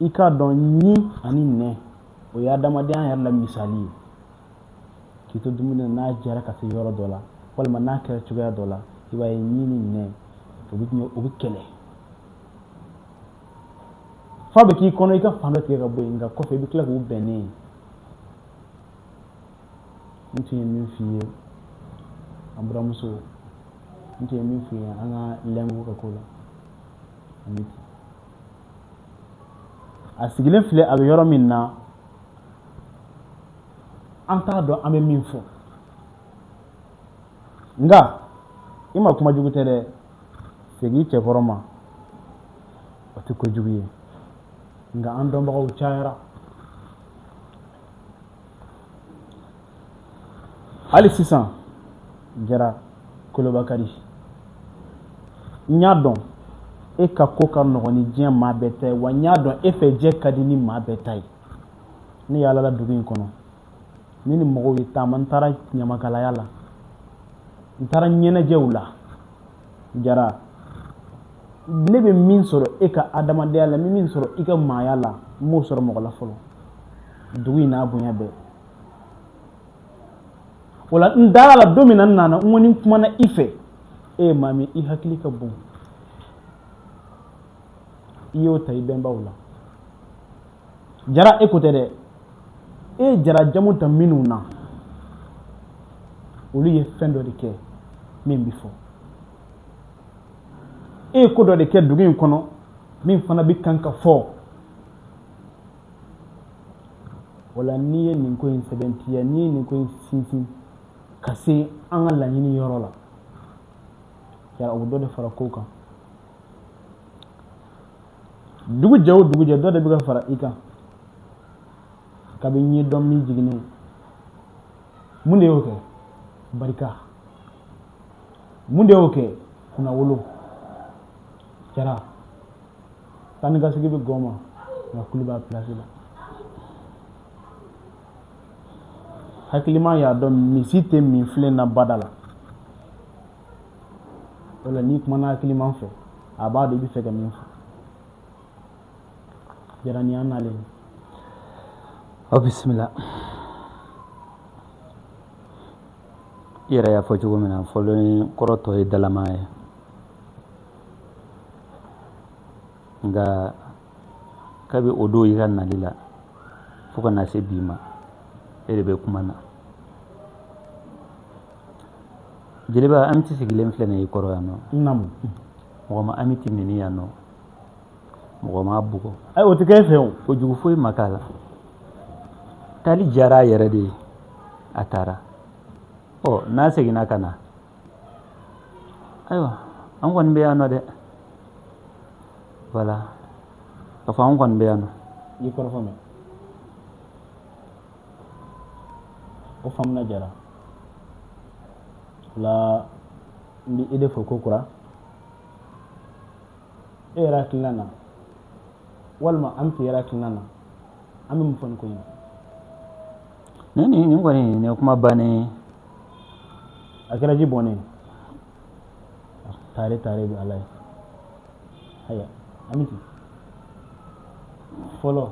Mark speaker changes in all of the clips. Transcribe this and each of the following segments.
Speaker 1: i k'a dɔn ɲin ani nɛn o ye adamadenya yɛrɛ la misali ye k'i to dumuni na jara ka se yɔrɔ dɔ la walima n'a kɛra cogoya dɔ la i b'a ye ɲin ni nɛn u bɛ kɛlɛ f'a bɛ k'i kɔnɔ i ka fan dɔ tigɛ ka bɔ yen nka kɔfɛ i bɛ tila k'u bɛn ne ye n tun ye min f'i ye an buramuso n tun ye min f'i ye an ka lɛngu ka ko la an bɛ ten a sigilen filɛ a bɛ yɔrɔ min na an t'a dɔn an bɛ min fɔ nka i makuma jugu tɛ dɛ segin cɛkɔrɔ ma o tɛ kojugu ye nka an dɔnbagaw cayara hali sisan jara kolobakari n y'a dɔn e ka ko ka nɔgɔn ni diɲɛ maa bɛɛ ta ye wa n y'a dɔn e fɛ jɛ ka di ni maa bɛɛ ta ye ne yaalala dugu in kɔnɔ ne ni mɔgɔw ye taama n taara ɲamakalaya la n taara ɲɛnajɛw la jara ne bɛ min sɔrɔ e ka adamadenya la n bɛ min sɔrɔ i ka maaya la n m'o sɔrɔ mɔgɔ la fɔlɔ dugu in n'a bonya bɛɛ o la n dara la don min na n nana n ko ni n kumana i fɛ e ye maa min i hakili ka bon i y'o ta i bɛnbaw la jara e ko tɛ dɛ e ye jara jamu ta minnu na olu ye fɛn dɔ de kɛ min bɛ fɔ e ye ko dɔ de kɛ dugu in kɔnɔ min fana bɛ kan ka fɔ o la n'i ye nin ko in sɛbɛntiya n'i ye nin ko in sinsin ka se an ka laɲini yɔrɔ la jara o bɛ dɔ de fara kow kan dugu jɛ o dugu jɛ dɔ de bɛ ka fara i kan kabini ye don min jiginnen mun de y'o kɛ barika mun de y'o kɛ kunnawolo jara taa ni ka segin bɛ gɔn ma nka kulu b'a pilasi la hakilima y'a dɔn misi tɛ min filen na bada la wala n'i kumana hakilima fɛ a b'a dɔn i b'a fɛ ka min fɔ jara ni an
Speaker 2: nalen aw bisimila i yɛrɛ y'a fɔ cogo min na fɔlɔ kɔrɔ tɔ ye dalama ye nka kabi o don i ka nali la fo ka na se bi ma e de bɛ kuma na jeliba Amiti sigilen filɛ nin ye i kɔrɔ yan nɔ naamu
Speaker 1: mɔgɔ ma
Speaker 2: Amiti nɛni yan nɔ mɔgɔ m'a bugɔ ayi o tɛ kɛ e fɛ
Speaker 1: o ko jugu foyi ma k'a
Speaker 2: la taali diyara a yɛrɛ de ye a taara ɔ n'a seginna ka na ayiwa an kɔni bɛ yan nɔ dɛ voilà k'a fɔ anw kɔni bɛ yan nɔ i kɔrɔfɔ
Speaker 1: mɛnna o faamuna jara voilà n bɛ i de fo ko kura e yɛrɛ hakilina na walima Amiti yɛrɛ hakilina na an bɛ mun fɔ nin ko in na nin nin nin
Speaker 2: kɔni nin ye kuma bannen ye
Speaker 1: a kɛra ji bɔnnen ye taare taare bɛ ala ye haya Amiti fɔlɔ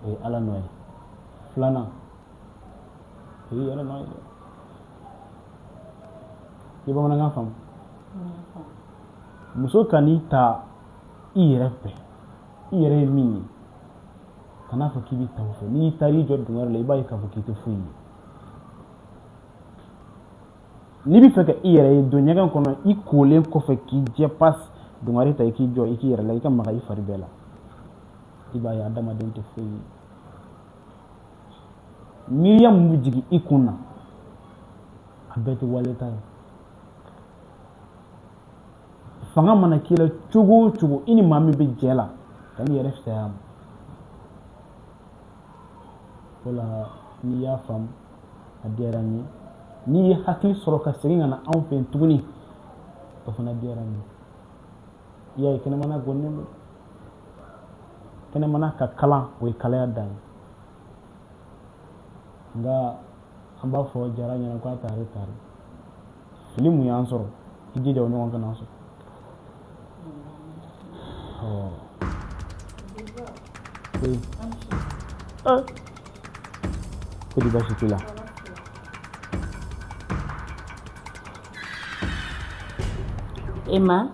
Speaker 1: o ye ala nɔ ye filanan o ye i yɛrɛ nɔ ye dɛ i ye bamanankan faamu muso kan'i ta i yɛrɛ fɛ i yɛrɛ ye min ye kan'a fɔ k'i bɛ ta o fɛ n'i taara i jɔ dungare la i b'a ye k'a fɔ k'i tɛ foyi ye n'i bɛ fɛ ka i yɛrɛ ye don ɲɛgɛn kɔnɔ i kolen kɔfɛ k'i jɛ pas dungare ta i k'i jɔ i k'i yɛrɛ lajɛ i ka maga i fari bɛɛ la i b'a ye adamaden tɛ foyi ye miiriya min bɛ jigin i kun na a bɛɛ tɛ waleta ye fanga mana k'i la cogo o cogo i ni maa min bɛ jɛ la kan'i yɛrɛ fisaya ma o la n'i y'a faamu a diyara n ye n'i ye hakili sɔrɔ ka segin ka na anw fɛ yen tuguni o fana diyara n ye i y'a ye kɛnɛmana gɔnnen don kɛnɛmana ka kalan o ye kalaya dan ye nka an b'a fɔ jara ɲɛ na k'a taare taare fili min y'an sɔrɔ i jija o ɲɔgɔn kan'an sɔrɔ ko di baasi t'i
Speaker 3: la Emma.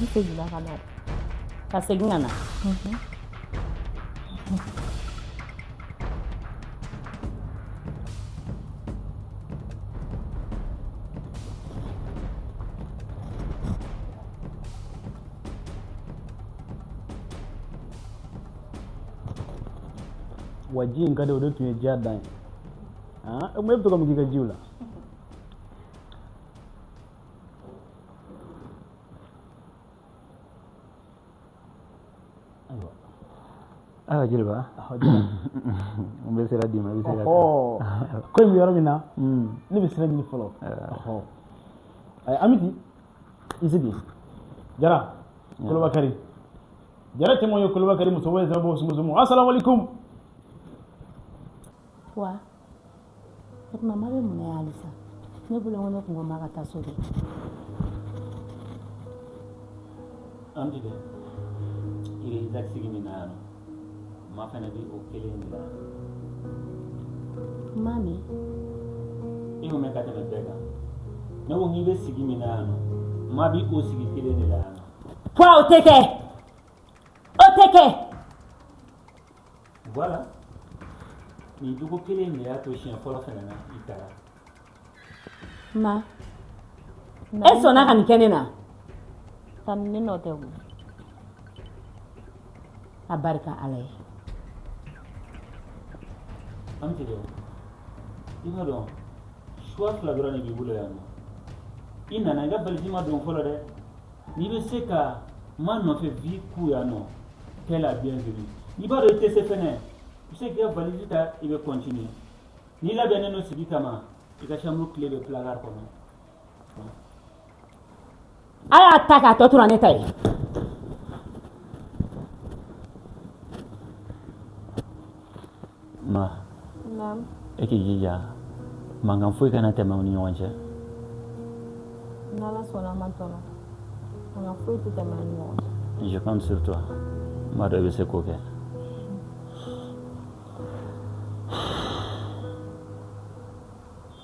Speaker 3: Ne seginna ka na ka segin ka
Speaker 1: na wa ji in ka di o de tun ye diya dan ye e bɛ to ka mun k'i ka ji la
Speaker 2: ayiwa jeliba n bɛ sira d'i ma i bɛ se ka taa ko in bɛ
Speaker 1: yɔrɔ min na hmm. ne bɛ sira ɲini fɔlɔ eh. amiti i sigi jara eh. kolobakari jara cɛman ye kolobakari muso ye sira bɔ sumusumu asalamualeykum
Speaker 3: wa O tuma ma bɛ mun na yan halisa ne bolo ko ne kun ko ma ka taa so
Speaker 2: dɛ an bɛ i sigi min na ma fana bɛ o kelen de la
Speaker 3: ma
Speaker 2: min i k'o mɛn ka tɛmɛ bɛɛ kan ne ko n'i bɛ sigi min na yan nɔ ma bɛ o sigi kelen de la yan nɔ o tɛ kɛ
Speaker 3: o tɛ kɛ
Speaker 2: Voilà nin jogo kelen in de y'a to siɲɛ fɔlɔ fana na i
Speaker 3: taara ma e sɔnna ka nin kɛ ne na ka ne nɔ tɛ o a barika ala
Speaker 2: ye Amiti dɛ i b'a dɔn choix fila dɔrɔn de b'i bolo yan nɔ i nana i ka valise ma don fɔlɔ dɛ n'i bɛ se ka ma nɔfɛ vie kun yan nɔ t'es la bienvenue n'i b'a dɔn i tɛ se fɛnɛ i bɛ se k'i ka valise ta i bɛ continuer n'i labɛnnen don sigi kama i ka chambre clé bɛ placard
Speaker 3: kɔnɔ a y'a ta k'a tɔ tora ne ta ye
Speaker 2: Ma e k'i jija mankan foyi kana tɛmɛ aw
Speaker 3: ni ɲɔgɔn cɛ je compte sur
Speaker 2: toi n b'a dɔn i bɛ se k'o kɛ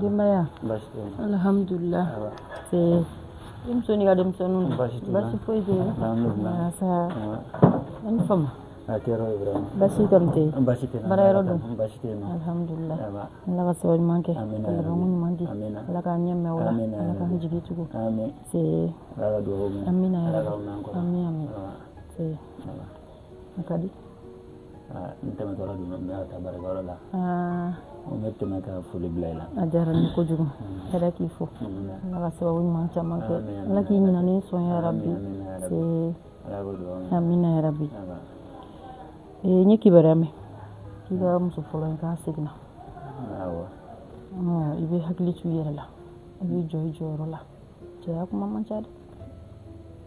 Speaker 2: denbaya
Speaker 3: alihamdulila denmuso n'i ka denmisɛnninw basi foyi tɛ yen
Speaker 2: an
Speaker 3: ni fama
Speaker 2: basi kɔni tɛ
Speaker 3: yen basi tɛ baara
Speaker 2: yɔrɔ dun
Speaker 3: basi tɛ yen alihamdulila ala ka
Speaker 2: sababu ɲuman
Speaker 3: kɛ ala ka
Speaker 2: ɲuman
Speaker 3: di ala k'an ɲɛ
Speaker 2: mɛn
Speaker 3: o la ala k'an jigi tugu
Speaker 2: amina ya
Speaker 3: rabi amina
Speaker 2: amina
Speaker 3: a ka
Speaker 2: di n tɛmɛtɔ de don n bɛ ka taa baarakɛyɔrɔ la n ko n bɛ tɛmɛ ka foli bila i la a diyara n ye kojugu
Speaker 3: ala k'i fo ala ka sababu ɲuman caman kɛ ala k'i ɲinani sɔn ya rabi
Speaker 2: amina ya
Speaker 3: rabi n ye kibaruya mɛn k'i ka muso fɔlɔ in k'a seginna
Speaker 2: i bɛ hakili to i yɛrɛ
Speaker 3: la i b'i jɔ i jɔyɔrɔ la cɛya kuma man ca dɛ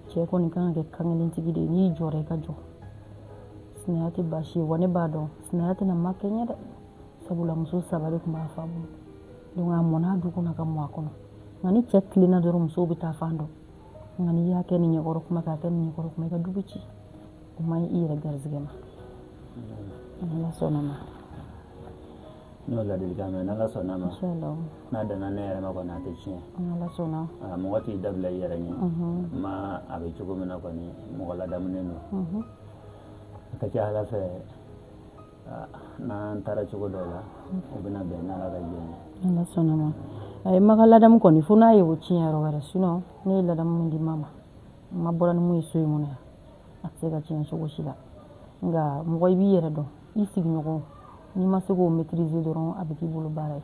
Speaker 3: cɛ kɔni kan ka kɛ kankelentigi de ye n'i jɔra i ka jɔ sinaya tɛ baasi ye wa ne b'a dɔn sinaya tɛna ma kɛɲɛ dɛ sabula muso saba de tun b'a fa bolo donc a mɔn'a du kɔnɔ ka mɔ a kɔnɔ nka ni cɛ tilenna dɔrɔn musow bɛ taafan dɔn nka n'i y'a kɛ nin ɲɛkɔrɔ kuma k'a kɛ nin ɲɛkɔrɔ kuma i ka du bɛ ci o man ɲi i yɛrɛ garizigɛ ma ala sɔnna ma
Speaker 2: N y'o ladilikan mɛn n'Ala sɔnn'a ma, insalawu,
Speaker 3: n'a danna ne
Speaker 2: yɛrɛ ma kɔni a tɛ tiɲɛ, n'Ala sɔnna,
Speaker 3: aa mɔgɔ t'i
Speaker 2: dabila i yɛrɛ ɲɛ, unhun, Ma a bɛ cogo min na kɔni mɔgɔ ladamunen don, unhun, a ka ca Ala fɛ aa n'an taara cogo dɔw la o bɛna bɛn n'Ala ka jɛn ye, n'Ala sɔnna
Speaker 3: ma, ayi Ma ka ladamu kɔni fo n'a ye o tiɲɛ yɔrɔ wɛrɛ sinon ne ye ladamu min di Ma ma Ma bɔra ni min ye so in kɔnɔ yan a tɛ se ka tiɲɛ cogo si la nka mɔgɔ i b'i yɛrɛ dɔn i sigiɲɔgɔn n'i ma se k'o maîtriser dɔrɔn a bɛ k'i bolo baara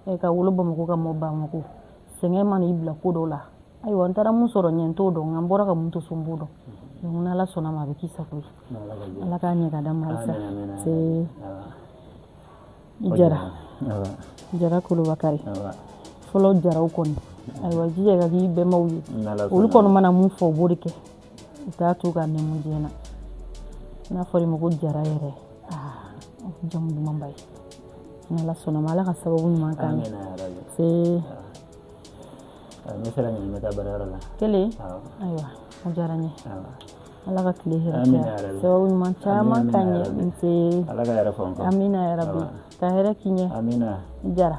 Speaker 3: ye ɛ ka wolo bamakɔ ka mɔ bamakɔ sɛgɛn mana i bila ko dɔw la ayiwa n taara mun sɔrɔ ɲɛ n t'o dɔn nka n bɔra ka mun to so n b'o dɔn donc n'ala sɔnna ma a bɛ k'i sago ye ala k'a ɲɛ k'a d'a ma halisa i jara jara kolobakari fɔlɔ jaraw kɔni ayiwa jija ka k'i bɛnbaw ye olu kɔni mana mun fɔ o b'o de kɛ u t'a tu k'a nɛmu diɲɛ na n'a fɔr'i ma ko jara yɛrɛ jamu dumanba ye ni ala sɔnna ma ala ka sababu ɲuman k'an cɛ ne
Speaker 2: sera nin bɛ taa baarayɔrɔ la kelen
Speaker 3: ayiwa a diyara n ye ala ka tile hɛrɛ sababu ɲuman caman k'an ɲɛ n
Speaker 2: se amina yarabi
Speaker 3: ka hɛrɛ k'i ɲɛ jara